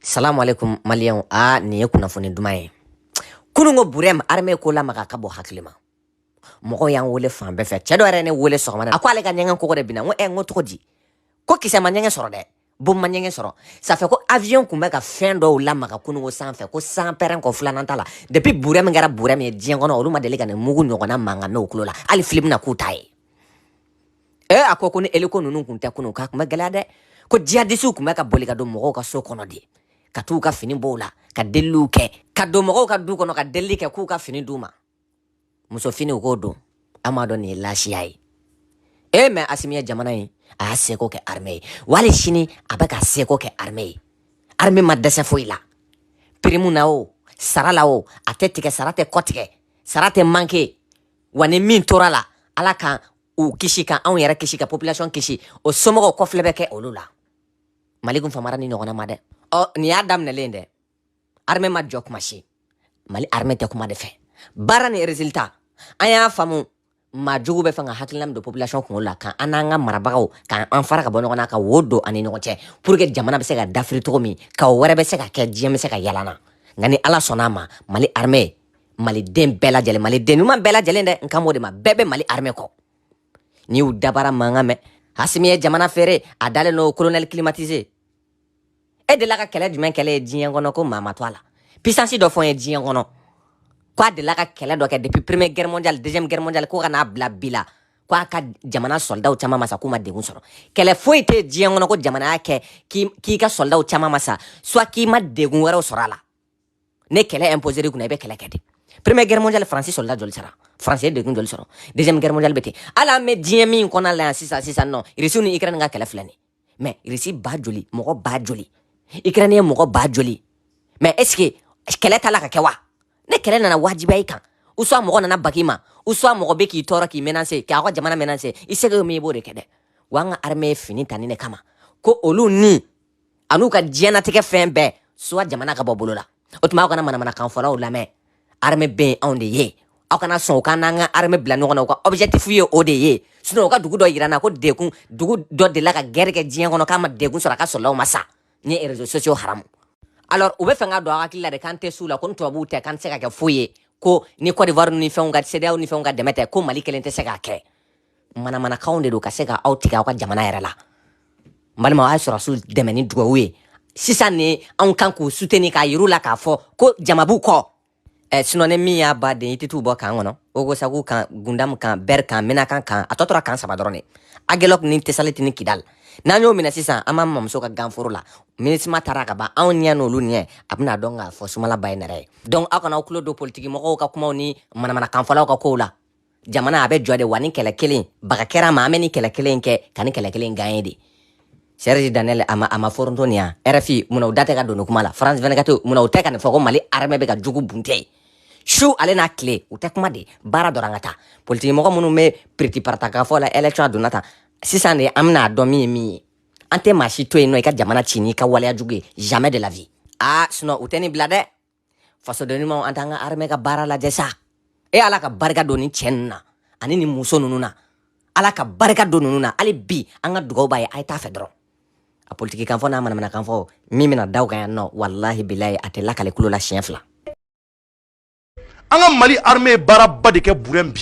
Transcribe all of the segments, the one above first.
salamu alaikum maliyɛnw a nin ye kunnafoni duman ye kununko burɛm arme ko lamaga ka bɔ hakili ma mɔgɔw y'an wele fan bɛɛ fɛ cɛ dɔ yɛrɛ ne wele sɔgɔmada a ko ale ka ɲɛgɛn kogo de binna n ko ɛ n ko cogo di ko kisɛ ma ɲɛgɛn sɔrɔ dɛ bon ma ɲɛgɛn sɔrɔ ça fait ko avion kun bɛ ka fɛn dɔw lamaga kununko san fɛ ko san pɛrɛn kɔ filanan t'a la depuis burɛm kɛra burɛm ye diɲɛ kɔnɔ olu ma deli ka nin mugu ɲɔgɔnna mankan mɛn u tulo la hali film na k'u ta ye ɛ a ko ko ni eliko ninnu kun tɛ kunun k'a kun bɛ gɛlɛya dɛ ko jihadisiw kun bɛ ka boli ka don mɔgɔw ka so kɔnɔ de ka t'u ka fini b'u la ka deliliw kɛ ka don mɔgɔw ka du kɔnɔ ka delili kɛ k'u ka fini d'u ma muso finiw k'o don an m'a dɔn nin ye laasiya ye e mais asimi ye jamana ye a y'a seko kɛ armée ye hali sini a bɛ ka seko kɛ armée ye armée ma dɛsɛ foyi la pirimu na o sara la o a tɛ tigɛ sara tɛ kɔtigɛ sara tɛ manke wa ni min tor'a la ala kan u kisi ka anw yɛrɛ kisi ka population kisi o somɔgɔw kɔfilɛ bɛ kɛ olu la mali kun famara nin ɲɔgɔnna ma dɛ ɔ nin y'a daminɛlen dɛ armée ma jɔ kuma si mali armée tɛ kuma de fɛ baara ni résultat an y'a faamu maa jugu bɛ fɛ ka hakilina min don population kunkolo la ka an n'an ka marabagaw ka an fara ka bɔ ɲɔgɔn na ka wo don an ni ɲɔgɔn cɛ pour que jamana bɛ se ka dafiri cogo min ko wɛrɛ bɛ se ka kɛ diɲɛ bɛ se ka yalanna nka ni ala sɔnna a ma mali armée maliden bɛɛ lajɛlen maliden ɲuman bɛɛ lajɛlen dɛ n kan b'o de ma bɛɛ bɛ mali armɛ kɔ n'i y'u dabara mankan mɛn asimi ye jamana feere a dalen n'o colonel climatisé e delila ka kɛlɛ jumɛn kɛlɛ ye diɲɛ kɔnɔ ko maa ma to a la puissance dɔ fɔ n ye diɲɛ kɔnɔ ko a delila ka kɛlɛ dɔ kɛ depuis première guerre mondiale deuxième guerre mondiale ko ka n'a bila bi la ko a ka jamana sɔldaw caman ma sa k'u ma degun sɔrɔ kɛlɛ foyi tɛ diɲɛ kɔnɔ ko jamana y'a kɛ k'i ka sɔldaw caman ma sa soit k'i ma degun wɛrɛw sɔrɔ a la ni kɛlɛ imposé de kunna i bɛ kɛlɛ kɛ de première guerre mondiale faransi sɔlda joli sara faransi ye degun joli sɔrɔ deuxième guerre mondiale bɛ ten hali an bɛ diɲɛ min kɔnɔna la yan sisan sisan nɔ irisi ni ukraine ka kɛlɛ filɛ nin mais irisi ba joli mɔgɔ ba joli ukraine ye mɔgɔ ba joli mais est ce que kɛlɛ t'a la ka kɛ wa ni kɛlɛ nana wajibiya i kan ou soit mɔgɔ nana bag'i ma ou soit mɔgɔ bɛ k'i tɔɔrɔ k'i menacer k'a ka jamana menacer i seko min i b'o de kɛ dɛ wa an ka armée ye fini ta nin de kama ko olu ni an'u ka diɲɛnatigɛ fɛn bɛɛ soit jamana ka bɔ bolo la o tuma aw kana manamanakan fɔlaw lamɛn arme bɛ yen anw de ye aw kana sɔn u k'an n'an ka arme bila ɲɔgɔn na u ka objectif ye o de ye sinon u ka dugu dɔ yira n na ko degun dugu dɔ delila ka guerre kɛ diɲɛ kɔnɔ k'a ma degun sɔrɔ a ka sɔldaw ma sa nin ye réseaux sociaux haramu alors u bɛ fɛ k'a don aw hakili la de k'an tɛ s'u la ko ni tubabuw tɛ k'an tɛ se ka kɛ foyi ye ko ni Côte d'Ivoire ni fɛnw ka CEDEAO ni fɛnw ka dɛmɛ tɛ ko Mali kelen tɛ se k'a kɛ manamanakanw de don ka se ka aw tigɛ aw ka jamana yɛrɛ la n balima a ye sɔrɔsiw dɛmɛ ni dugawu ye sisan ne anw kan k'u soutenir k'a yir'u la k'a fɔ ko jama b'u kɔ eh, sinɔ ni min y'a ba den i tɛ t'u bɔ kan kɔnɔ ogosagu kan gundamu kan bɛri kan menaka kan a tɔ tora kan saba dɔrɔn de agelɔk ni tesaliti ni kidal n'an y'o minɛ sisan an b'an mamuso ka ganforo la minusma taara ka ban anw ɲɛ n'olu ɲɛ a bɛna dɔn k'a fɔ sumala ba ye nɛrɛ ye donc aw kana aw tulo don politiki mɔgɔw ka kumaw ni manamanakanfɔlaw ka kow la jamana a bɛ jɔ de wa nin kɛlɛ kelen baga kɛra ma an bɛ nin kɛlɛ kelen kɛ ka nin kɛlɛ kelen gaɲe de serge daniel a ma a ma foronto nin yan rfi munna u da tɛ ka don nin kuma la france 24 munna u tɛ ka nin fɔ ko mali armɛ bɛ ka jugu bunte su ale n'a tile u tɛ kuma de baara dɔrɔn ka taa politiki mɔgɔ minnu bɛ piriti parata k'a fɔ la election a donna tan sisan de an bɛna a dɔn min ye min ye an tɛ maa si to yen nɔ i ka jamana ci n'i ka waleya jugu ye jamais de la vie aa sinɔn u tɛ nin bila dɛ fasoden ɲumanw an t'an ka armɛ ka baara lajɛ sa e ala ka barika don nin cɛ nunu na ani nin muso nunu na ala ka barika don nunu na hali bi an ka dugawu b'a ye a ye taa fɛ dɔrɔn a politiki kan fɔ n'a manamanakan fɔ min bɛna d'aw kan yan nɔ walahi bilayi a tɛ lakale kulo la siɲɛ fila an ka mali armɛ ye baaraba de kɛ burɛn bi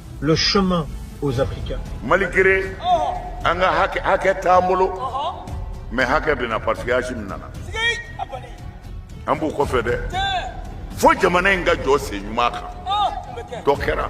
Le chemin aux Africains. Malgré, an ka hakɛ hakɛ t'an bolo mais hakɛ bɛ na parce que Asimi nana. An b'u kɔfɛ dɛ. Fo jamana in ka jɔ sen ɲuman kan. Dɔ kɛra.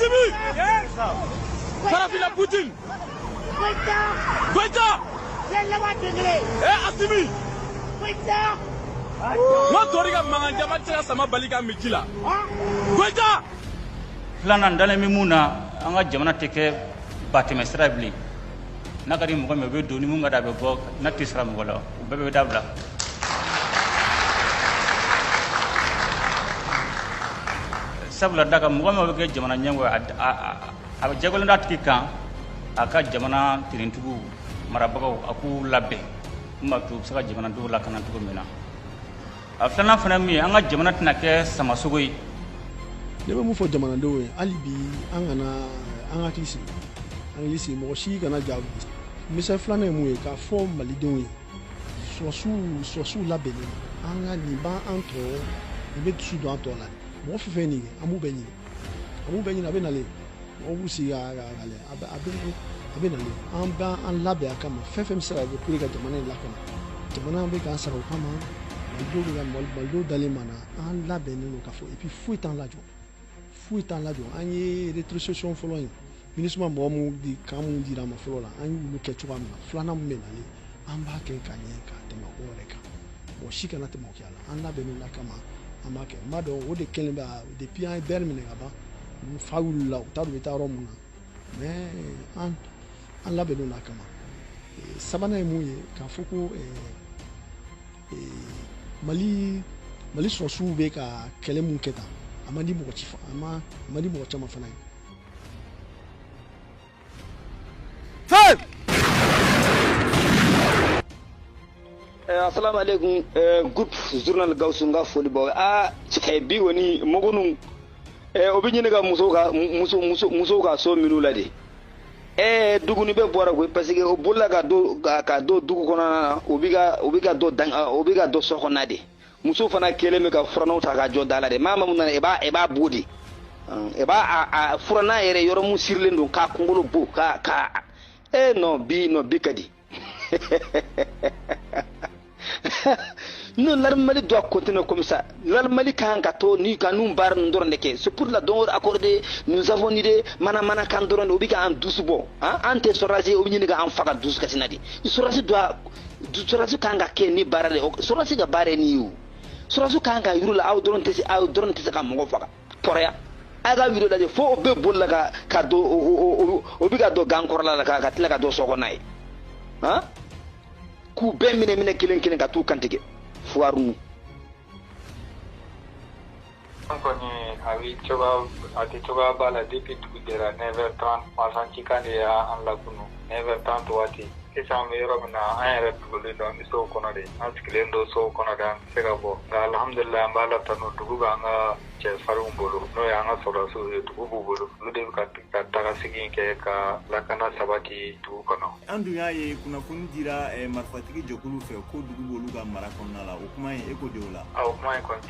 Asimi! Yes! Farafina Putin! Goita! Goita! Yɛlɛma degere! Eh, Asimi! Goita! Ntori ka mankan caman tɛ se ka sama bali ka min ji la. Goita! Filanan dalen bɛ mun na an ka jamana tɛ kɛ batɛmɛsira bilen. n'a ka di mɔgɔ min o bɛ don ni mun ka da a bɛ bɔ n'a tɛ sara mɔgɔ la o bɛɛ bɛ dabila sabula dakan mɔgɔ min bɛ kɛ jamana ɲɛmɔgɔ a bɛ jagolen d'a tigi kan a ka jamana finitigiw marabagaw a k'u labɛn min b'a to u bɛ se ka jamanadenw lakana cogo min na a filanan fana min ye an ka jamana tɛna kɛ samasogo ye ne bɛ mun fɔ jamanadenw ye hali bi an kana an hakili sigi an hakili sigi mɔgɔ si kana ja misali filanan ye mun ye k'a fɔ malidenw ye sɔrɔsiw sɔrɔsiw labɛnnen an ka nin b'an an tɔɔrɔ nin bɛ dusu don an tɔ la mɔgɔ fɛn fɛn nin kɛ an b'u bɛɛ ɲini mun bɛ ɲini a bɛ nalen mɔgɔw b'u sigi ka ka ka lajɛ a bɛ a bɛ a bɛ nalen an bɛ an labɛn a kama fɛn fɛn bɛ se ka kɛ pour que ka jamana in lakana jamana bɛ k'an sara o kama malidenw bɛ ka mali malidenw dalen b'an na an labɛnnen don k'a fɔ et puis foyi t'an lajɔ foyi t'an lajɔ an ye rétrocession fɔlɔ in minisuma mɔgɔ minnu di kan minnu dira an ma fɔlɔ la an y'olu kɛ cogoya min na filanan min bɛ nalen an b'a kɛ ka ɲɛ ka tɛmɛ o yɛrɛ kan mɔgɔ si kana tɛmɛ o kɛ a la an labɛnnen d'a kama an b'a kɛ n b'a dɔn o de kɛlen bɛ depuis an ye bɛri minɛ ka ban fa wulila u t'a dɔn u bɛ taa yɔrɔ min na mais an an labɛnnen d'a kama sabanan ye mun ye k'a fɔ ko mali mali sɔrɔdasiw bɛ ka kɛlɛ min kɛ tan a man di mɔgɔ ci a man di mɔgɔ caman fana ye Fal! Eh, assalamu alaikum eh, groupe journal Gawusu n ka foli b'aw ye a eh, bi woni mɔgɔ ninnu eh, o bɛ ɲini ka muso ka muso muso muso ka so minnu la de eh, duguni bɛɛ bɔra koyi parce que o bolila ka don ka don dugu kɔnɔna na o bi ka o bi ka don dan o bi ka don so kɔnɔna de muso fana kɛlen bɛ ka furannanw ta ka jɔ da la de maa maa min nana i b'a i b'a bugɔ de i b'a a furannan yɛrɛ yɔrɔ min sirilen don k'a kunkolo bugɔ ka ka e non bi non bi ka di non l'armée Mali doit continuer comme ça l'armée Mali kan ka to ni ka nin baara ninnu dɔrɔn de kɛ c'est pour la don o accordé nous avons ni de manamanakan dɔrɔn de o bɛ ka an dusu bɔ an tɛ sɔrɔdasi ye o bɛ ɲini ka an faga dusukasi na de sɔrɔdasi doit sɔrɔdasi kan ka kɛ ni baara de ye sɔrɔdasi ka baara ye nin ye o sɔrɔdasi kan ka yuru la aw dɔrɔn tɛ se aw dɔrɔn tɛ se ka mɔgɔ faga kɔrɔya a ka vidéo lajɛ fo o bɛ boli la ka ka don o o o bɛ ka don gan kɔrɔla la ka ka tila ka don so kɔnɔna yen han k'u bɛɛ minɛ minɛ kelen kelen ka t'u kantigɛ fuwariw An kɔni a bɛ cogoya a tɛ cogoya b'a la depuis dugu jɛra 9 heures 30 marifa cikan de y'an lakunu 9 heures 30 waati sisan an bɛ yɔrɔ min na an yɛrɛ dogolen don an bɛ sow kɔnɔ de an sigilen don sow kɔnɔ de an tɛ se ka bɔ nka alihamudulila an b'Ala tanu dugu b'an ka cɛfarinw bolo n'o ye an ka sɔrɔdasiw ye dugu b'u bolo olu de bɛ ka ka tagasegin kɛ ka lakana sabati dugu kɔnɔ. an dun y'a ye kunnafoni dira marifatigi jɛkulu fɛ ko dugu b'olu ka mara kɔnɔna la o kuma in e ko di o la. a o kuma in kɔni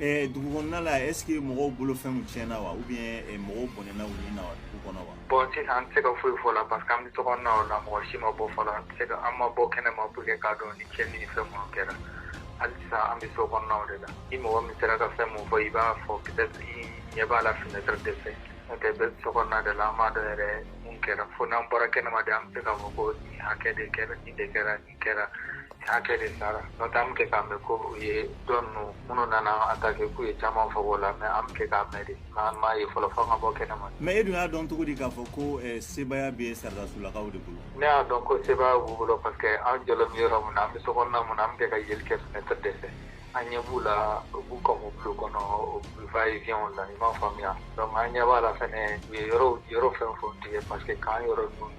Ɛɛ dugu kɔnɔna la est ce que mɔgɔw bolo fɛnw tiɲɛna wa ou bien eh, mɔgɔw bɔnɛna u ni na wa dugu kɔnɔ wa bon sisan an tɛ se ka foyi fɔ a la parce que an bɛ so kɔnɔnaw la mɔgɔ si ma bɔ fɔlɔ an tɛ se ka an ma bɔ kɛnɛma pour que k'a dɔn ni tiɲɛni ni fɛn minnu kɛra hali sisan an bɛ so kɔnɔnaw de la ni mɔgɔ min sera ka fɛn min fɔ i b'a fɔ peut-être i ɲɛ b'a la fenêtre de fɛ n'o tɛ bɛɛ bɛ so kɔnɔna de la an t'a dɔn yɛrɛ mun kɛra fo n'an bɔra kɛnɛma de an bɛ se k'a fɔ ko nin hakɛ de kɛra nin de kɛra kɛra hakɛ de sara n'o tɛ an bɛ kɛ k'a mɛn ko u ye dɔ ninnu minnu nana attaquer k'u ye caman fɔ o la mais an bɛ kɛ k'a mɛn de nka an m'a ye fɔlɔ fo an ka bɔ kɛnɛma. mais e dun y'a dɔn cogo di k'a fɔ ko sebaya bɛ saradasulakaw de bolo. ne y'a dɔn ko sebaya b'u bolo parce que an jɔlen bɛ yɔrɔ min na an bɛ sokɔnɔna min na an bɛ kɛ ka yeli kɛ fenêtre de fɛ an ɲɛ b'u la u b'u ka mobili kɔnɔ u bɛ va et vient la i m'a faamuya donc an ɲɛ b'a la fɛnɛ u ye yɔrɔ yɔrɔ fɛn o fɛn tigɛ parce que k'an yɔrɔ ninnu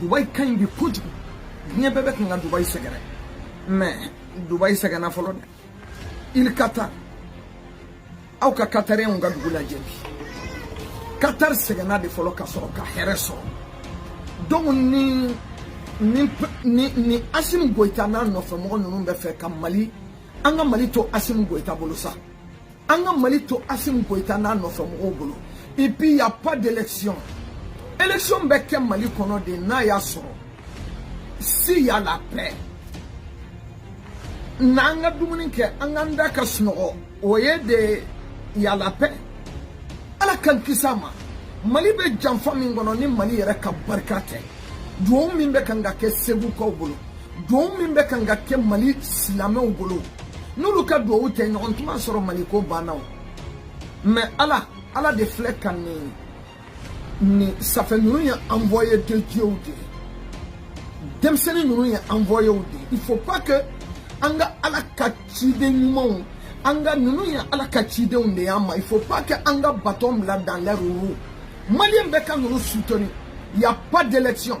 dubayi ka ɲi bi kojugu diɲɛ bɛɛ bɛ kan ka dubayi sɛgɛrɛ mais dubayi sɛgɛnna fɔlɔ dɛ il katari aw ka katariyɛnw ka dugu lajɛ bi katari sɛgɛnna de fɔlɔ ka sɔrɔ ka hɛrɛ sɔrɔ donc ni ni ni ni asimu goyita n'a nɔfɛmɔgɔ ninnu bɛ fɛ ka mali an ka mali to asimu goyita bolo sa an ka mali to asimu goyita n'a nɔfɛmɔgɔw bolo et puis il y a pas d'élection élection bɛ kɛ mali kɔnɔ de n'a y'a sɔrɔ si y a la paix n'an ka dumuni kɛ an k'an da ka sunɔgɔ o ye de y a la paix ala k'an kisi a ma mali bɛ janfa min kɔnɔ ni mali yɛrɛ ka barika tɛ duwawu min bɛ kan ka kɛ segukaw bolo duwawu min bɛ kan ka kɛ mali silamɛw bolo n'olu ka duwawu tɛ ɲɔgɔn tuma sɔrɔ mali ko banna o mais ala ala de filɛ ka nin nin ça fait ninnu ye envoyé de dieu de ye denmisɛnnin ninnu ye envoyé de ye il faut pas que an ka ala ka ciden ɲumanw an ka ninnu ye ala ka cidenw de y'an ma il faut pas que an ka baton bila dans leur roue maliyɛn bɛɛ ka ninnu soutenir il y a pas d'élection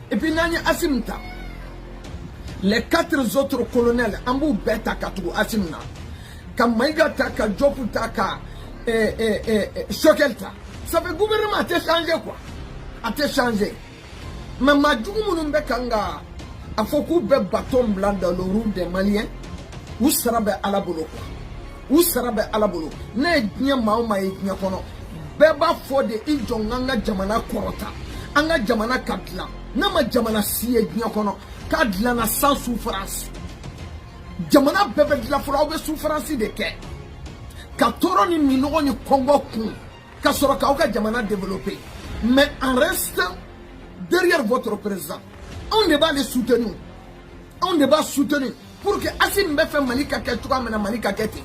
Et puis n'an ye Asim ta les quatre autres colonels an b'u bɛɛ ta ka tugu Asim na ka Mayiga ta ka Jɔp ta ka eh, eh, eh, eh Sogɛl ta ça fait gouvernement a tɛ changer quoi a tɛ changer mais maa jugu minnu bɛ kan ka a fɔ k'u bɛ baton bila dans le roue des Maliens u sara bɛ Ala bolo quoi u sara bɛ ala bolo ne ye diɲɛ maa o maa ye diɲɛ kɔnɔ bɛɛ b'a fɔ de i jɔ an k'an ka jamana kɔrɔta an ka jamana ka dilan ne ma jamana si ye diɲɛ kɔnɔ k'a dilanna sans souffrance jamana bɛɛ bɛ dilan fɔlɔ aw bɛ souffrance de kɛ ka tɔɔrɔ ni minɔgɔ ni kɔngɔ kun ka sɔrɔ k'aw ka jamana développer mais en reste derrière votre président anw de b'ale soutenir anw de b'a soutenir pour que asimi bɛ fɛ mali ka kɛ cogoya min na mali ka kɛ ten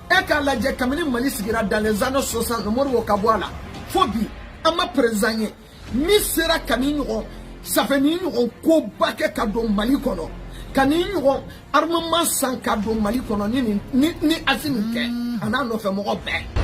e k'a lajɛ kabini mali sigira dans les années 60 modibo ka bɔ a la fo bi an ma président ye min sera ka nin ɲɔgɔn ça fait nin ɲɔgɔn koba kɛ ka don mali kɔnɔ ka nin ɲɔgɔn armement san ka don mali kɔnɔ ni nin ni ni asimi tɛ a n'a nɔfɛmɔgɔ bɛɛ